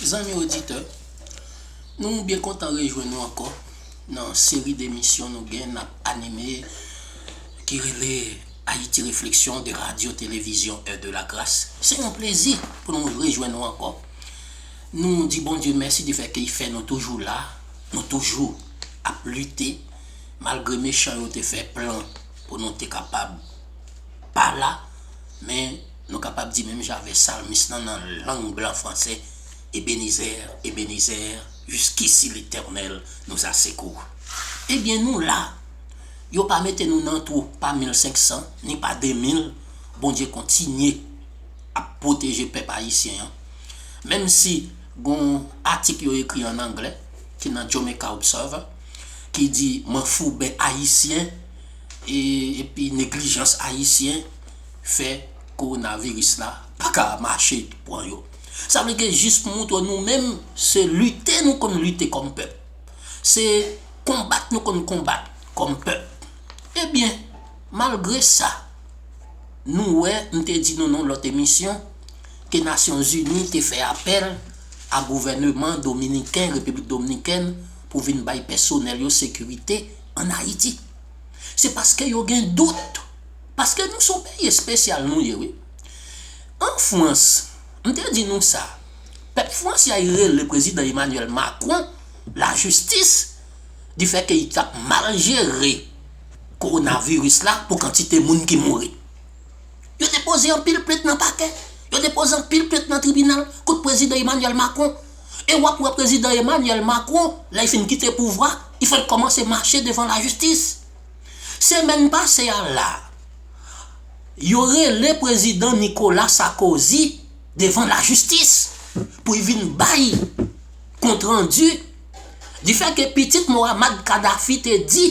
Zanmi oditè, nou byen kontan rejwenn nou ankò nan seri demisyon nou gen nap anime ki rele Ayiti Refleksyon de Radyo Televizyon È de la Gras. Se yon plezi pou nou rejwenn nou ankò. Nou di Bondye mèsi di fè ke y fè nou toujou la, nou toujou ap lite malgre mechan yo te fè plan pou nou te kapab pa la men. Nou kapab di menm jan avè salmis lan nan lang blan franse, Ebenezer, Ebenezer, jiskisi Letènèl nous a secour. Ebyen nou la! Yo pa mete nou nan twou pa 1500 ni pa 2000, Bondye kontinye ap pwoteje pèp ayisyen an. Menm si gon yon atik yo ekri an angle ki nan Jamaica Observer ki di manfouben ayisyen epi neglijans ayisyen, fè coronavirus la paka mache pran yo. Sa vle ke jis pou montre nou menm se lite nou konn lite kòm pèp. Se konbat nou konn konbat kòm pèp. Ebyen, malgre sa, nou wè, m te di nou nan yon lòt emisyon, ke Nasyon Zini te fè apèl a gouvèneman dominiken, Repiblik Domnikèn, pou vin bay pèsonèl yo sekirite an Ayiti. Se paske yo gen dout. Paske nou son peyi espesyal nou ye wi. An Frans, m te di nou sa, pèp Fransay rele prezidan Emmanuel Macron la jistis di fè ke li tap mal jere korona viris la pou kantite moun ki mouri. Yo depoze anpil plent nan pakè, yo depoze anpil plent nan tribinal kont prezidan Emmanuel Macron. E wap wè prezidan Emmanuel Macron lè li fin kite pouvwa, li fèk kòmanse mache devan la jistis. Semèn pase a la, yo rele prezidan Nicolas Sarkozy devan lajistis pou y vin bay kontrandi di fè ke pitit Mohammad Kadhafi te di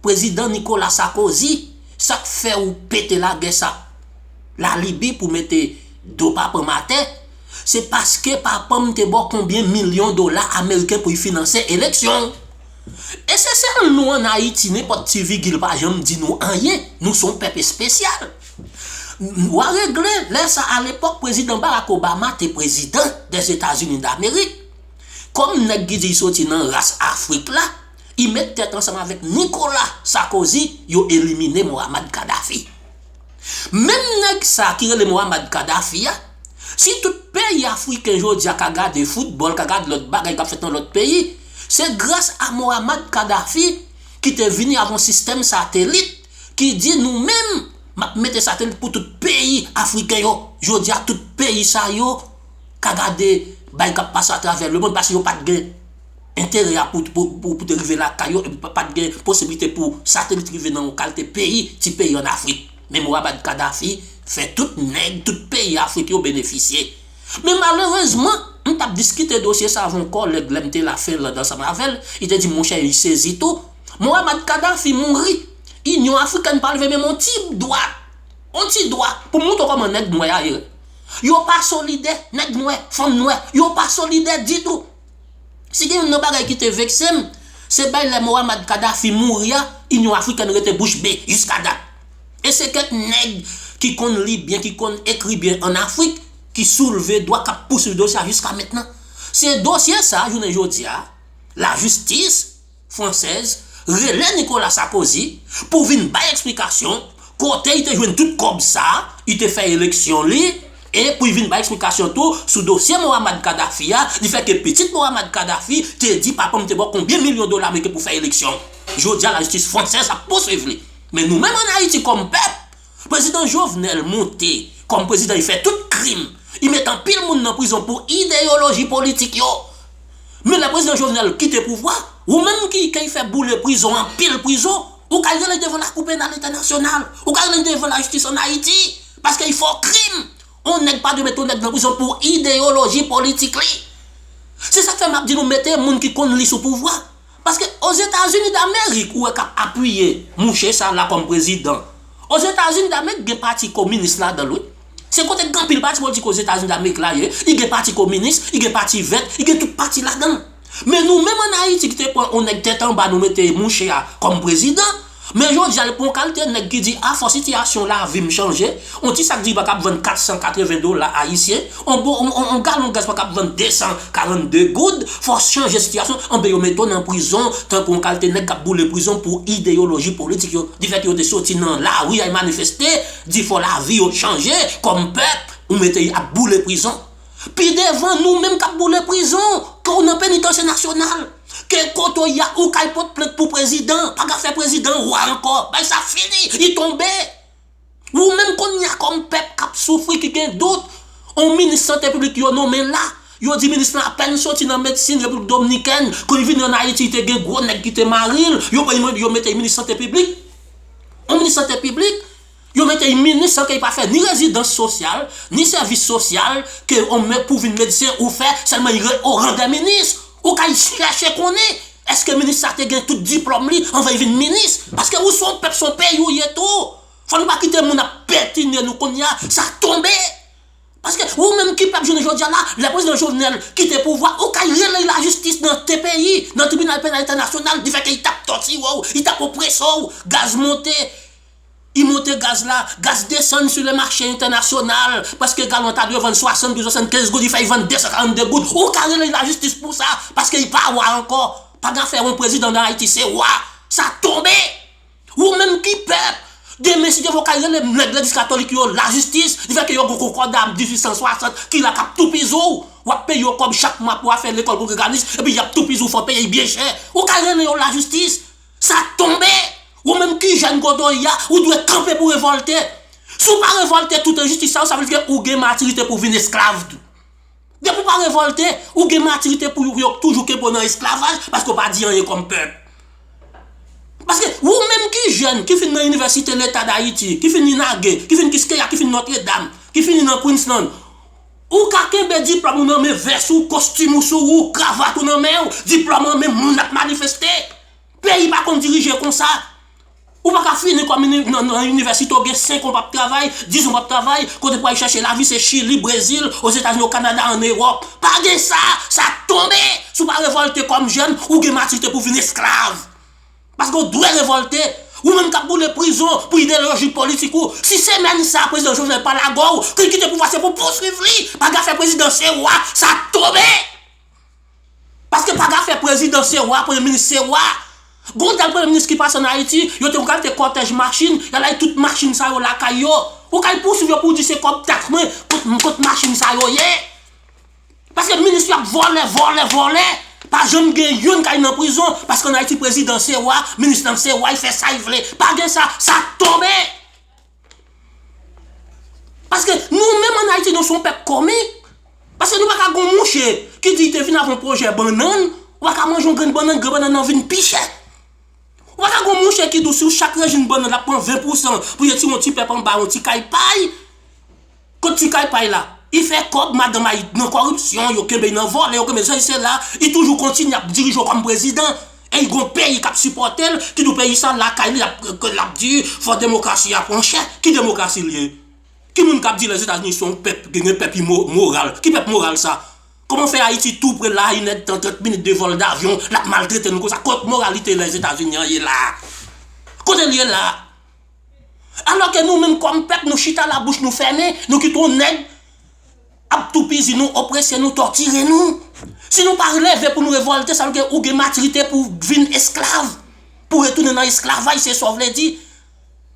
prezidan Nicolas Sarkozy sa k fè ou pete lagè sa k la Libi pou mete do papa m atè se paske papa m te ba w konbyen milyon dola ameriken pou y finanse eleksyon w. E se sèl nou an Ayiti nenpòt ti vigil pa janm di nou anyen, nou son pèp espesyal. Wa regle lè sa alepòk prezidan Barack Obama te prezidan dèzetazini damerik. Kòm nèg ki di y soti nan ras afrik la, y met tèt ansanm avèk Nikola Sakozi yo elimine Mohammad Kadhafi. Menm nèg sa ki rele Mohammad Kadhafi a, si tout peyi afriken jodi a ka gade foutbòl, ka gad lòt bagay kap fèt nan lòt peyi, Se gras a Mohammad Kadhafi ki te vini ak yon sistèm satelit ki di nou menm map mete satelit pou tout peyi afriken yo. Jodi a tout peyi sa yo ka gade bagay kap pase a travè lemond paske yo pat gen enterè a pou te rive lakay yo epi pat gen posibilite pou satelit rive nan yon kalte peyi, ti peyi an Afrik. Men Mohammad Kadhafi fè tout nèg, tout peyi Afrik yo benefisye. Men malerezman, m t ap diskite dosye sa avon kòlèg lè m te la Fenland ansanm avè l, li te di m monchè li sezi tou, Mohammad Kadhafi mouri, Inyon Afrikèn pa leve menm on ti dwa, on ti dwa pou montre w kòman nèg nwè a ye. Yo pa solidè, nèg nwè, fanm nwè, yo pa solidè ditou. Si gen youn nan bagay ki te vekse m, se bay lè Mohammad Kadhafi mouri a, Inyon Afrikèn rete bouch be jiska dat. E se kèk nèg ki konn li byen, ki konn ekri byen an Afrik ki soulve dwa k ap pouswiv dosye a jiska mentnan. Se dosye sa a jounen jodi a, lajistis, Française, rele Nicolas Sarkozy pou vin bay eksplikasyon kote li te jwenn tout kòb sa li te fè eleksyon li e pou li vin bay eksplikasyon tou sou dosye Mohammad Kadhafi a li fè ke pitit Mohammad Kadhafi te di papa m te baw konbyen milyon dola ameriken pou fè eleksyon. Jodi a lajistis Française ap pouswiv li. Men nou menm an Ayiti kòm pèp, Prezidan Jovenel moute kòm prezidan li fè tout krim, li met anpil moun nan prizon pou ideyoloji politik yo. Men lè prezidan Jovenel kite pouvwa, ou menm ki key fè boule prizon anpil prizon, ou kay rele devan lakou penal entènasyonal, ou kay rele devan lajistis an Ayiti, paskey fè w krim. On nèg pa dwe mete on nèg nan prizon pou ideyoloji politik li. Se sak fè map di nou mete moun ki konn li sou pouvwa. Paske Ozetazini Damerik ou wè kap apiye mouche sa la kòm prezidan. Ozetazini Damerik gen pati kominis ladan l wi. Se kote gen anpil pati politik Ozetazini Damerik la ye. Li gen pati kominis, li gen pati vèt, li gen tout pati ladan l. Men nou menm an Ayiti ki te pran yon nèg tèt anba nou mete mouche a kòm prezidan. Men jodi a li pa yon kalte nèg ki di a fò sitiyasyon lavi m chanje, yon ti sak diriba k ap vann 480 dola ayisyen, yon galon gaz pa ka ap vann 242 goud, fò chanje sitiyasyon, anben yo mete w nan prizon tankou yon kalte nèg k ap boule prizon pou ideyoloji politik yo, difèt ke yo te soti nan lari al manifeste, di fò lavi yo chanje, kòm pèp, ou mete y ap boule prizon. Pi devan nou menm kap boule prizon ke w nan penitansye nasyonal, ke kote w ya ou kal pot plent pou prezidan, paga fè prezidan an wa ankò, bagay sa fini, li tonbe. Ou menm konnya kòm pèp kap soufri ki gen dout, on minis sante piblik yo nonmen la, yo di minis lan apèn soti nan medsin repiblik domnikèn, kou li vini an ayiti li te gen gwo nèg ki te mari l, yo pran l yo mete l minis sante piblik, on minis sante piblik. Yo mete yn minis san ke li pa fè ni rezidans sosyal, ni sèvis sosyal ke on men pou vin medsen ou fè, sèlman li re o ran dè minis. Ou ka al chèche konnen eske minis sa te gen tout diplòm li anvan li vin minis. Paske ou son pèp son peyi ou ye tou. Fò nou pa kite moun ap petine nou kounye a, sa tonbe. Paske ou menm ki pèp jounen jodi a la, lè prezidan Jovenel kite pouvwa, ou ka al rele lajistis nan tpi, nan tribinal penal entènasyonal, di fè ke li tap tòtire w, li tap oprese w, gaz monte. I monte gaz la, gaz desann sou le mache entènasyonal, paske galon ta dwe vann 60 pou 75 goud, i fè i vann 242 goud, ou ka rele lajistis pou sa, paske i pa wa ankò, pa gen afè yon prezidan nan Ayiti se wa, sa tonbe! Ou menm ki pèp, demen si te vle ou ka rele nèg legliz katolik yo lajistis, di fè ke yo gen konkòda 1860 ki la kap toupizi w, wap peye yo kòb chak mwa pou afè lekòl kongreganis, epi yap toupizi w fè w peye byen chè, ou ka rele yo lajistis! Sa tonbe! Ou menm ki jèn kote w ye a, ou dwe kanpe pou revòlte. Si w pa revòlte tout enjistis sa yo, sa vle di ke ou gen matirite pou vin esklav tou. Depi w pa revòlte, ou gen matirite pou yo toujou kenbe w nan esklavaj paske w pa di anyen kòm pèp. Paske, ou menm ki jèn, ki fin nan inivèsite leta dayiti, ki fin inage, ki fin kiskeya, ki fin nòtredam, ki fini nan kwinslann, Ou ka kenbe diplòm ou nan men, vès ou, kostim ou sou ou, kravat ou nan men ou, diplòm an men, moun ap manifeste. Peyi pa konn dirije konsa. Ou pa ka fini kòm nan inivèsite ou gen 5 an ou pap travay, 10 an ou pap travay, kote pou al chèche lavi se Chili, Brezil, Ozetazini, o Kanada, an Ewòp. Pa gen sa, sa tonbe! Si w pa revòlte kòm jèn, ou gen matirite pou w vin esklav. Paske ou dwe revolte. Ou menm kap boule prizon pou ideloji politik ou. Si se menm sa prezidan Jovenel pa lagow, pou l kite pouvwa se pou pouswiv li. Paga fè prezidan se wa, sa tonbe. Paske paga fè prezidan se wa, premye minis se wa. Gon dal premye minis ki pase an Ayiti, yo te pral te kòtèj machin, ya lay tout machin sa yo lakay yo. Ou kal pouswiv yo pou di se kòb taks mwen, kot machin sa yo ye. Paske minis yo ap vòlè, vòlè, vòlè, pa janm gen youn kay nan prizon, paske an Ayiti prezidan se wa, minis nan se wa, li fè sa li vle, pa gen sa, sa ap tonbe. Paske nou menm an Ayiti nou son pèp komik, paske nou pa ka gon mouche ki di li te vin avon pwojè bannann, ou pa ka manje yon grenn bannann, grenn bannann nan vin pi chè. Ou pa ka gon mouche ki di w si w chak rejin bannann l ap pran 20 pousan pou l ti yon ti pèp anba, yon ti kay pay. Kot ti kay pay la? I fè kòb madanm a it nan kòripsyon, yo kenbe i nan vòlè, yo kenbe sesi sela, i toujou kontinye ap dirije yo kòm prezidan. E i gon peyi k ap sipòte l, ki di w peyi sa lakay li, l ap di fò demokrasi a pran chè. Ki demokrasi li ye? Ki moun k ap di Lèzetazini se yon pèp, gen pèp imoral? Ki pèp moral sa? Kòman fè Ayiti tou pre la a, inèdtan, trant minit de vòl davyon, l ap maltrete nou konsa? Kot moralite Lèzetazini an ye la a? Kote l ye la a? Alòke nou menm kòm pèp nou chita la bouch nou fèmen, nou kite yon nèg ap toupizi nou, oprese nou, tòtire nou. Si nou pa leve pou nou revòlte sa vle di ou gen matirite pou vin esklav, pou retounen nan esklavaj se sa w vle di.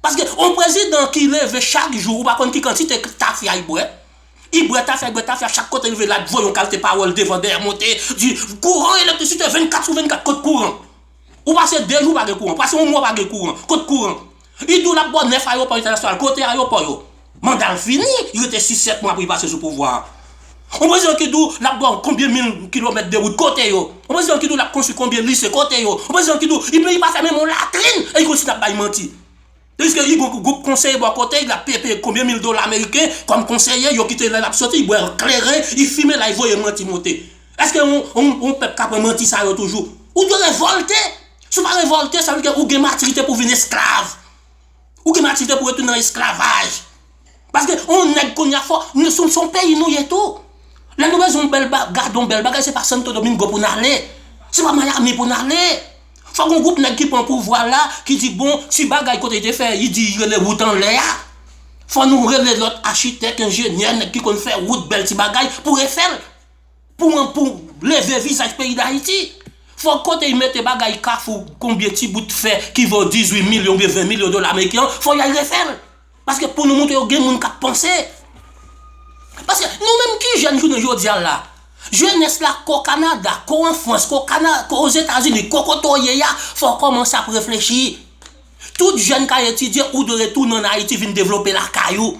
Paske yon prezidan ki leve chak jou ou pa konn ki kantite tafya li bwè, li bwè tafya, li bwè tafya chak kote li rive l ap voye yon kalte pawòl devan dèyè monte di kouran elektrisite 24 sou 24 kot kouran. Ou pase 2 jou pa gen kouran, pase yon mwa pa gen kouran, kot kouran? Li di w l ap ba w 9 ayewopò entènasyonal, kote ayewopò yo? Manda l fini, li rete 6, 7 mwa pou li pase sou pouvwa a. Yon prezidan ki di w l ap ba w konbyen mil kilomèt de wout, kote yo? Yon prezidan ki di w l ap konstwi konbyen lise, kote yo? Yon prezidan ki di w li pa fèmen yon latrin e li kontinye ap bay manti. Piske li gon gwoup konseye bò kote li, lap peye peye konbyen mil dola ameriken kòm konseye, yo kite lè lap soti, li bwè kleren, li fimen lay voye manti monte. Eske yon pèp ka pran manti sa yo toujou? Ou dwe revòlte! Si w pa revòlte, sa vle di ke ou gen matirite pou w vin esklav. Ou gen matirite pou w retounen nan esklavaj. Paske yon nèg kounya fò, son peyi nou ye tou. Lè nou bezwen yon bèl bagay, gade yon bèl bagay se pa Santo Domingo pou n ale. Se pa Miami pou n ale. Fòk yon gwoup nèg ki pran pouvwa la, ki di bon, ti bagay kote te fè, yi di yi rele wout anlè a. Fò nou rele lòt achitèk, enjenyè, nèg ki konn fè wout, bèl ti bagay, pou refè l. Pou an pou leve vizaj peyi Dayiti. Fòk kote yi mete bagay kafou, konbyen ti bout fè ki vo 18 milyon oubyen 20 milyon dola ameriken an, fò y al refè l. Paske pou nou montre yo gen moun kap panse. Paske nou menm ki jèn jounen jodi a la, jenès la ke w Kanada, ke w an Frans, ke w kana, ke w o Zetazini, ke w kote w ye a, fò w kòmanse ap reflechi. Tout jèn ka etidye, ou dwe retounen an Ayiti vin devlope lakay ou.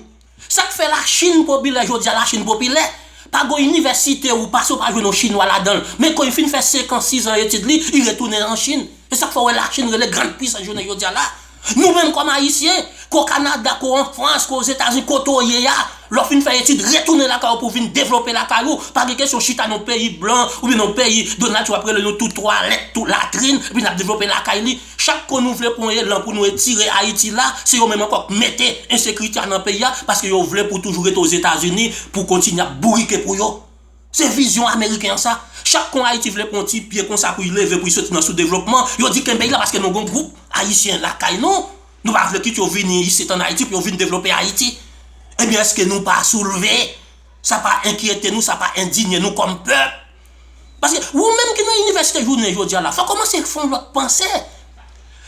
Sak fè la Chine popilè jodi a, la Chine popilè? Pa gen yon inivèsite ou pase ou pa jwenn yon chinwa ladan l. Men ke w fin fè 5 an, 6 an etid li, li retounen an Chine. E sak fè w wè la Chine rele grand puissance jounen jodi a la. Nou menm kòm ayisyen, ke w Kanada, ke w an Frans, ke w Ozetazini, kote w ye a, lè w fin fè etid, retounen lakay ou pou w vin devlope lakay ou, pa gen kesyon chita nan yon peyi blan oubyen nan yon peyi Donald Trump ap rele nou tout twalèt, tout latrin, epi n ap devlope lakay li. Chak ko nou vle pou nou ye lan pou nou etire Ayiti la, se yo menm ankò k mete ensekirite a nan peyi a, paske yo vle pou w toujou rete Ozetazini pou w kontinye ap bourike pou yo. Se vizyon ameriken an sa. Chak kon Ayiti vle pran yon ti pye konsa pou y leve pou y soti nan soudevlopman, yo di kenbe y la paske nou gen yon gwoup Ayisyen lakay nou, nou pa vle kit yo vini isit an Ayiti pou yo vin devlope Ayiti. Ebyen eske nou pa soulve? Sa pa enkyete nou, sa pa endinye nou kòm pèp? Paske wou menm ki nan inivèsite jounen jodi a la, fò w kòmanse fè yon lòt panse.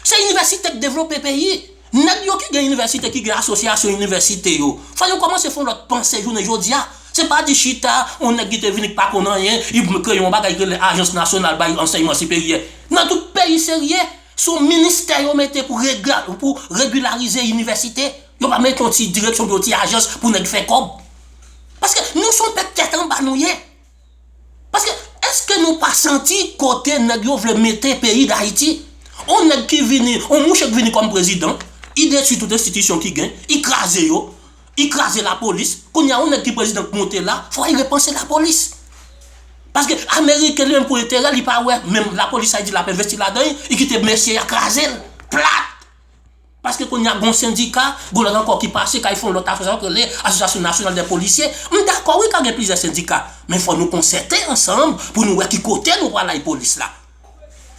Se inivèsite k devlope peyi. Nèg yo ki gen inivèsite ki gen asosyasyon inivèsite yo fò yo kòmanse fon lòt panse jounen jodia se pa di chita yon nèg ki te vini ki pa konn anyen li pou l kreye yon bagay ki rele ajans nasyonal bay ansèyman siperyè nan tout peyi serye son ministè yo mete pou regla pou regilarize inivèsite yo pa mete yon ti direksyon pou yon ti ajans pou nèg fè kòb paske nou son pèp tèt anba nou ye. Paske eske nou pa santi kote nèg yo vle mete peyi dayiti? On nèg ki vini, on mouche ki vini kòm prezidan, i detwi tout enstitisyon ki gen, i kraze yo, i kraze lapolis, kounye a on nèg ki prezidan k monte la, fò i repanse lapolis. Paske ameriken li menm pou enterè li pa wè menm lapolis sa y di l ap envesti ladan, i kite mesye a kraze l, plat! Paske kounya gon sendika, gon lòt ankò ki pase kay fon lòt afè sa k rele Association Nationale des Policiers. M dakò wi ka gen plizyè sendika, men fò nou konsète ansanm pou nou wè ki kote nou pral lay polis la.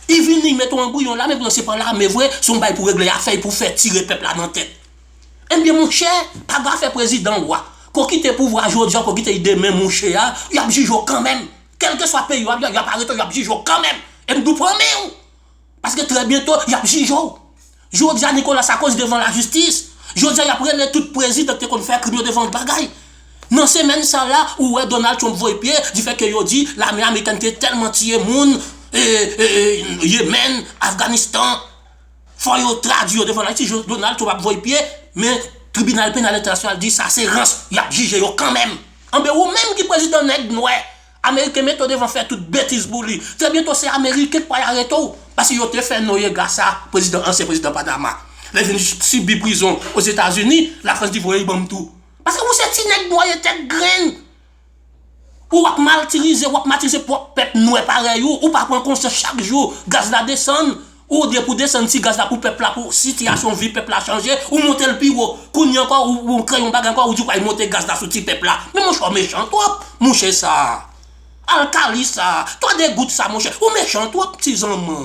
I vini i mete yon anbriyon lame poutan se pa lame vre, se yon bagay pou regle afè i pou fè tire pèp la nan tèt. Ebyen monchè, pa gen afè prezidan wa. Ke w kite pouvwa a jodi a ou ke w kite li demen mouche a, y ap jije w kanmenm. Kèlkeswa peyi w ap y ap arete w y ap jije w kanmenm. E m di w pran men w! Paske trè byento yap jije w. Jodia Nicolas Sarkozy devan lajistis. Jodia yap rele tout prezidan ki te konn fè krim yo devan bagay. Nan semèn sa la ou wè Donald Trump voye pye di fè ke yo di lame amerikèn te tèlman tiye moun Yemen, Afganistan fò yo tradui yo devan lajistis Donald Trump ap voye pye men tribinal penal entènasyonal di sa se rans yap jije yo kanmèm. Anben ou menm ki prezidan nèg nwè. Ameriken mete w devan fè tout betiz pou li. Trè byento se ameriken k pral arete w paske yo te fè Noyega sa, prezidan ansyen prezidan Panama. Lè l vin sibi prizon Ozetazini, Lafrans di voye l ban m tou. Paske ou se ti nèg dwaye tèt grenn. Ou w ap maltirize, w ap matirize pwòp pèp nwè parèy ou. Ou pa pran konsyans chak jou gaz la desann. Ou depi ou desann ti gaz la pou pèp la pou sitiyasyon vi pèp la chanje ou montel pi wo kounye ankò ou kreye yon bagay ankò ou di ou pral monte gaz la sou ti pèp la men monchè ou mechan twòp mouche sa alkali sa twa de gout sa monchè ou mechan twòp ti zanman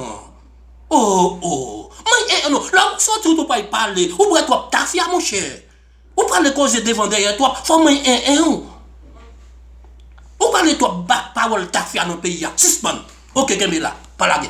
oh oh m'en eh non lè ou sòti ou tou pral pale ou bwè twòp tafya monchè ou pale koze devan dèyè twòp fò m'en eh eh ou ou pale twòp bak pawòl tafya nan peyi a sispann ok kenbe la pa lage.